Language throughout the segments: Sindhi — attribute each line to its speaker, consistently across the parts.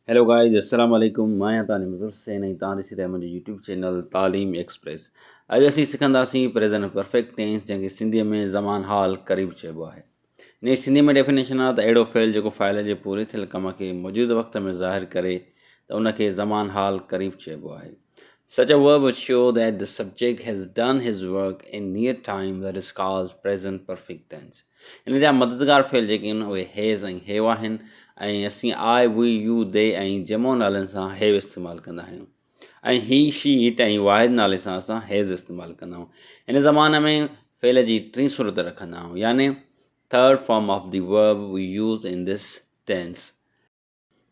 Speaker 1: هيلو گائيز السلام عليڪم مان آهيان تانجو مظفر حسين ۽ تان ڏسي رهيا منهنجو يوٽيوب چينل تعليم ايڪسپريس اڄ اسين سکنداسين پريزن ۽ پرفيڪٽ ٽينس جنهن کي سنڌي ۾ زمان حال قريب چئبو آهي ان جي سنڌي ۾ ڊيفينيشن آهي ته اهڙو فعل جيڪو فاعل جي پوري ٿيل ڪم کي موجود وقت ۾ ظاهر ڪري ته ان کي زمان حال قريب چئبو آهي Such a verb would show that the subject has done his work in near time that is called present perfect tense. ان جا مددگار فعل جيڪي آهن اهي هيز ۽ هيو آهن ۽ اسين آء، وي، يو، دي ۽ جمع نالن سان هيو استعمال ڪندا آهيون ۽ هي، شي، اٽ ۽ واحد نالي سان اسان هيز استعمال ڪندا آهيون. هن زبان ۾ فعل جي ٽين صورت رکندا آهيون يعني Third form of the verb we use in this tense.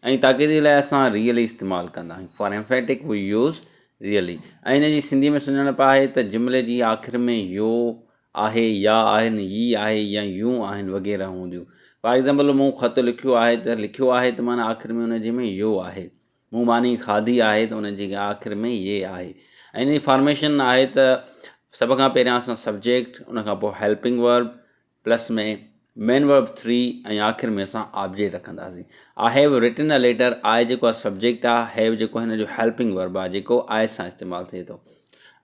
Speaker 1: ۽ تاڪيدي لاء اسان ريئلي استعمال ڪندا آهيون for emphatic we use really ۽ ان جي سنڌي ۾ سڃاڻپ آهي ته جملي جي آخر ۾ يو آهي يا آهن يي آهي يا يون آهن وغيره هونديون فار ايگزامپل مون خط لکيو آهي ته لکيو آهي ته معنيٰ آخر ۾ ان جي ۾ يو آهي مون ماني کاڌي آهي ته ان جي آخر ۾ يي آهي ۽ ان جي فارميشن آهي ته سڀ کان پهريان اسان سبجيڪٽ ان کان پوء helping verb plus ۾ main verb three ۽ آخر ۾ اسان آبجيڪٽ رکنداسين. آء هيو رٽن ا ليٽر، آء جيڪو آهي سبجيڪٽ آ، هيو جيڪو هن جو هيلپنگ ورب آ جيڪو آء سان استعمال ٿئي ٿو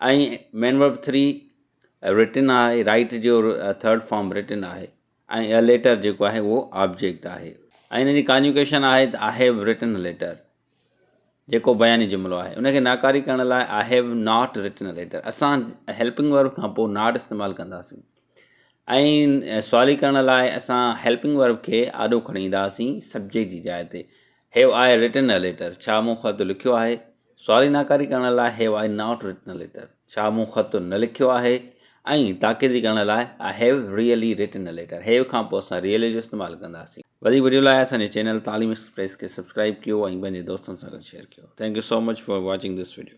Speaker 1: ۽ مين ورب ٿري رٽن آهي رائيٽ جو ٿرڊ فارم رٽن آهي ۽ ا ليٽر جيڪو آهي اهو آبجيڪٽ آهي ۽ هن جي ڪانجوڪيشن آهي ته آء هيو رٽن ا ليٽر جيڪو بياني جملو آهي ان کي ناڪاري ڪرڻ لاء I have not written a letter اسان هيلپنگ ورب کان پوء ناٽ استعمال ڪنداسين ائين سوالي ڪرڻ لاء اسان هيلپنگ ورب کي آڏو کڻي ايندا هئاسين سبجيڪٽ جي جاء تي هيو آء رٽن ا ليٽر ڇا مون خط لکيو آهي سوالي ناڪاري ڪرڻ لاء have I not written a letter ڇا مون خط نه لکيو آهي ۽ تاڪيدي ڪرڻ لاء I have really written a letter have کان پوء اسان ريئلي جو استعمال ڪنداسين وڌيڪ وڊيو لاء اسان جي چينل تعليم ايڪسپريس کي سبسڪرائب ڪيو ۽ پنهنجي دوستن سان گڏ شيئر ڪيو thank you so much for watching this video